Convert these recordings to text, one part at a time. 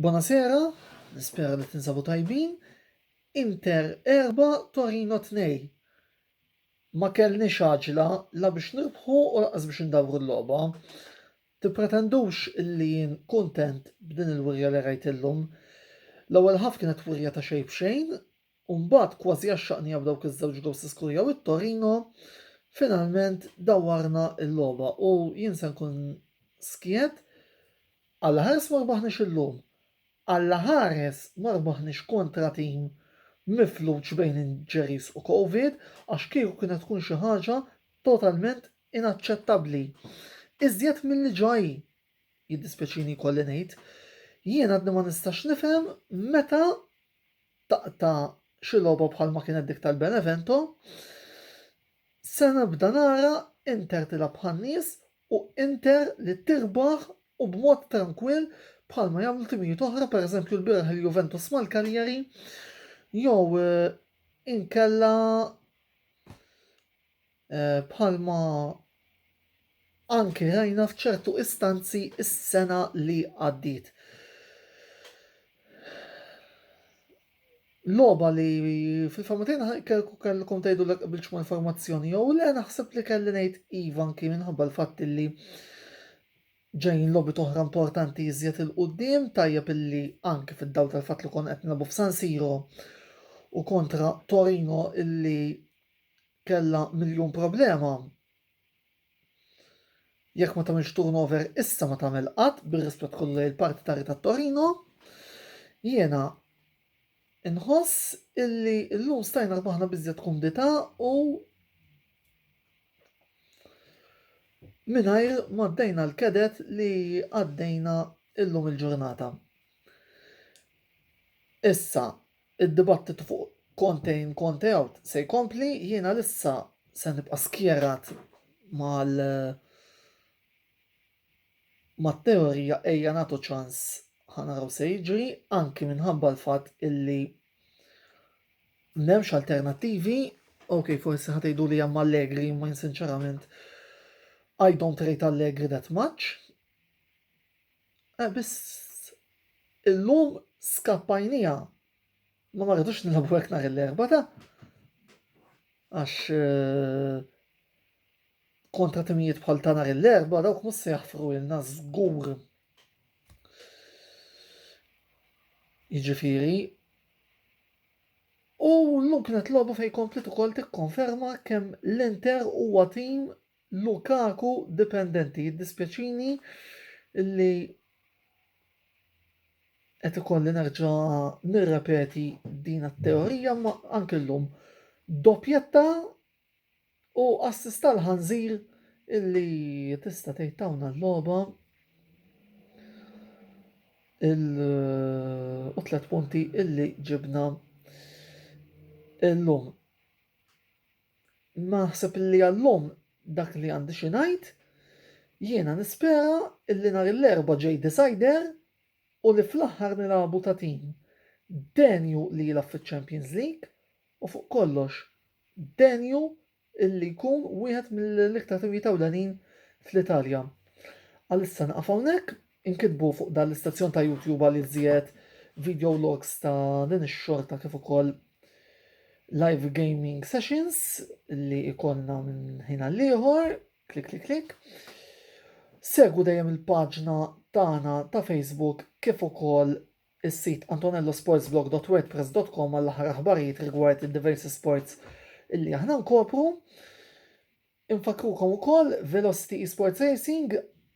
Bonasera, nispera li tinsabu tajbin. Inter erbgħa, Torino tnej. Ma kellniex għaġla la biex nirbħu u lanqas biex indawru l-logħba. Tippretendux li jien kuntent b'din il-wirja li rajt illum. L-ewwel ħaf kienet wirja ta' xejn b'xejn, U mbagħad, kważi għaxxaqnija b'dawk iż-żewġ gowls li skurjaw it-Torino, finalment dawwarna l-logħba u jien se nkun skiet, allaħares ma rbaħniex illum. Allaħares ma rbaħniex kontra tim mifluġ bejn injuries u Covid għax kieku kienet tkun xi ħaġa totalment inaċċettabbli. Iżjed milli ġa hi, jiddispjaċini jkolli ngħid. Jien għadni ma nistax nifhem meta taqta' xi logħba bħalma kienet dik tal-Benevento, se nibda nara Inter tilgħab bħan-nies u Inter li tirbaħ u b'mod trankwill bħalma jagħmlu timijiet oħra, pereżempju lbieraħ il-Juventus mal-Cagliari jew inkella bħalma anke rajna f'ċertu istanzi s-sena li għaddiet. Loba li fil-famutin kelku kellkom tgħidu l qbilx ma' informazzjoni jew le naħseb li kelli ngħid iva anki minħabba l-fatt li ġejn lobi toħra importanti iżjed il-qudiem tajjeb illi anki fid-dawl tal-fatt li kon qed nilagħbu f'San Siro u kontra Torino illi Kellha miljun problema. Jekk ma tagħmilx turnover issa ma tagħmel qatt bir-rispett kollu lejn il-parti ta' Rita Torino. Jiena inħoss illi llum stajna rbaħna biżjed kumdità u mingħajr ma ddejna l-kedet li għaddejna illum il-ġurnata. Issa, Id-dibattitu fuq Conte in Conte out se jkompli, jien għalissa se nibqa' skjerat mal mat-teorija ejja nagħtu ċans ħa naraw se jiġri, anki minħabba l-fatt illi m'hemmx alternattivi, ok forsi ħa tgħiduli hemm Allegri, imma jien sinċerament I don't rate Allegri that much. Eh biss illum skappajnija. Ma ma rridux nilħabu hekk nhar l-erba' ta' għax eh, kontra timijiet bħal ta' nhar l-erba' dawk mhux se jaħfru ilna żgur. Jiġifieri U l-lum kienet lobu fej komplet u kol tikkonferma kem l-Inter huwa tim Lukaku dipendenti, jiddispjaċini li qed ikolli nerġa' nirrepeti din it-teorija ma anke llum doppjetta u assist tal-ħanżir illi tista' tgħid tawna l-logħba il u tliet punti illi ġibna illum. Naħseb illi għal-lum dak li għandi xi ngħid. Jiena nispera illi nhar il-Erbgħa ġej decider u li fl-aħħar nilagħbu ta' tim denju li jilgħab fiċ-Champions League u fuq kollox denju illi jkun wieħed mill-iktar timijiet ewlenin fl-Italja. Għalissa nieqaf hawnhekk Inkitbu fuq dan l-istazzjon ta' YouTube għal iżjed video logs ta' din ix-xorta kif ukoll live gaming sessions li ikonna minn ħin għall-ieħor, klik klik klik. Segu dejjem il-paġna tagħna ta' Facebook kif ukoll is-sit antonellosportsblog.wordpress.com għall aħħar aħbarijiet rigward id-diversi sports illi aħna nkopru. Infakkrukom ukoll Velocity Esports Racing,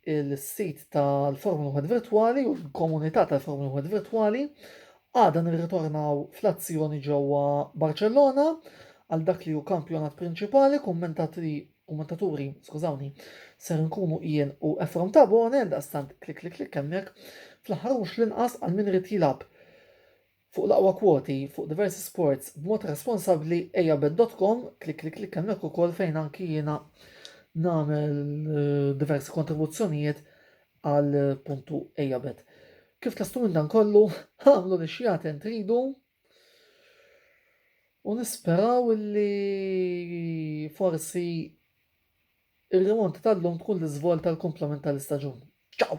il-sit tal-Formula Wieħed Virtwali u l-komunità tal-Formula Wieħed Virtwali. Għada nirritornaw fl-azzjoni ġewwa Barċellona għal dak li hu kampjonat prinċipali, kummentatri kummentaturi, skużawni, ser nkunu jien u Efrom Tabone, għal daqstant klik klik klik hemmhekk. Fl-aħħar mhux l-inqas għal min irid jilgħab Fuq l-aqwa kwoti fuq diversi sports b'mod responsabbli ejja bet.com klik klik klik hemmhekk ukoll fejn anki jiena nagħmel eh, diversi kontribuzzjonijiet għal puntu ejja bet. Kif tlastu minn dan kollu, għamlu li xjaten tridu u nisperaw li forsi ir-remonti tal-lum tkun l-iżvol tal-komplement tal-istaġun. Ciao!